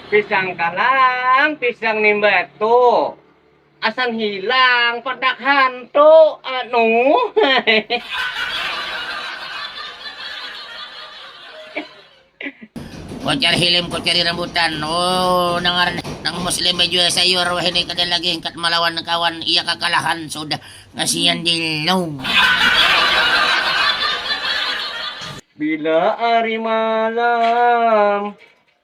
Pisang kalang, pisang nimbat tu. Asan hilang, padak hantu. Kucar hilim ku cari rambutan. Oh, nang ngaran nang muslim bajual sayur wahini kada lagi hingkat malawan kawan iya kakalahan sudah. Kasian Jilong. Bila ari malam.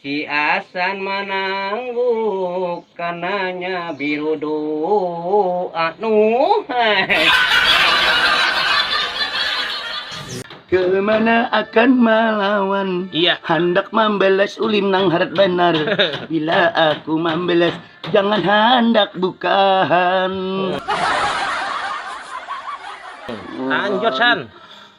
Si Asan manangguk kananya biru doa nuh. Kemana akan malawan Iya. Handak mambalas ulin nang harat banar Bila aku mambalas Jangan handak bukahan Lanjut San.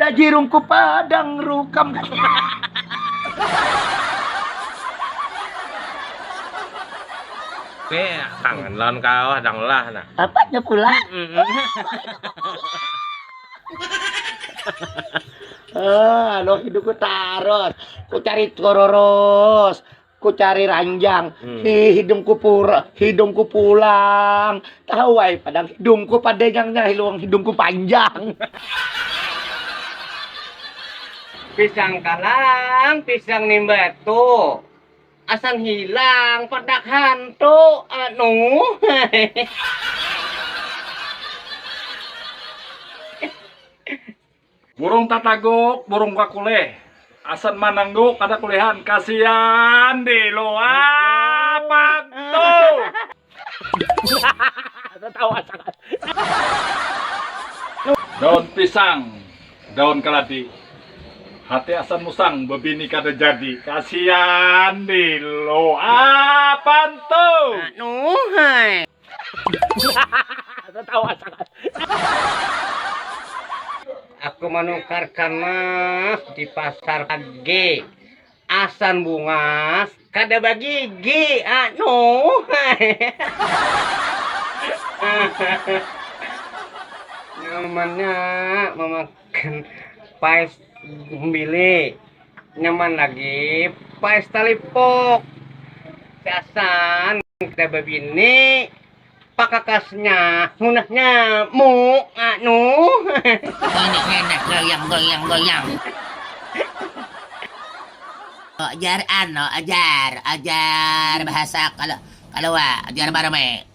Tajirungku padang rukam. Oke, tangan lawan kawah dang lah nah. Apanya pula? Ah, anu hidupku tarus. Ku cari kororus. ku cari ranjang hmm. hi hidungku pur hidungku pulang tahu ai padang hidungku padegangnya hiluang hidungku panjang pisang kalang pisang nimbat tuh asan hilang pedak hantu anu Burung tataguk, burung kakulih. Asan manangguk kada kulihan, kasian delo apat tuh. Daun pisang, daun kaladi. Hati asan musang, bebini kada jadi, kasian delo apan tuh. Aku manukar kamas di pasar lagi. Asan bungas kada bagigi anu. Nyamannya memakai pais gumbili nyaman lagi pais talipok gasan kita bebini pakakasnya munahnya mu anu goyang goyang goyang ojar ano ajar ajar bahasa kalau kalau ajar barame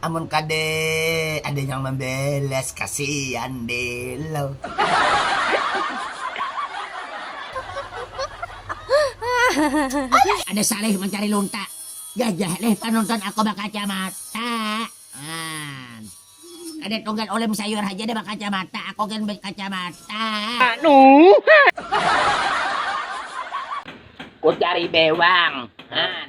Amun kada ada nang mambalas kasian belo. Ada saleh mancari lonta. Jajah leh panonton aku bakacamata. Haan. Kada tunggal ulem sayur haja dah bakacamata, aku gin bakacamata. Anuuhh. Ku cari bewang. Haan.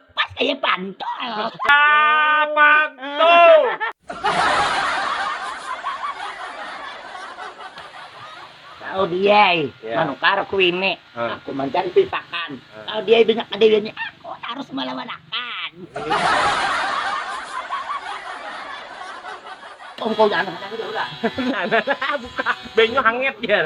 Pas kaya pantul. Ah, pantul. Tahu dia, yeah. manukar ku ini. Huh. Aku mancan pipakan. Huh. Tahu dia banyak kedewiannya. Aku harus melawan akan. Banyu hangat jar.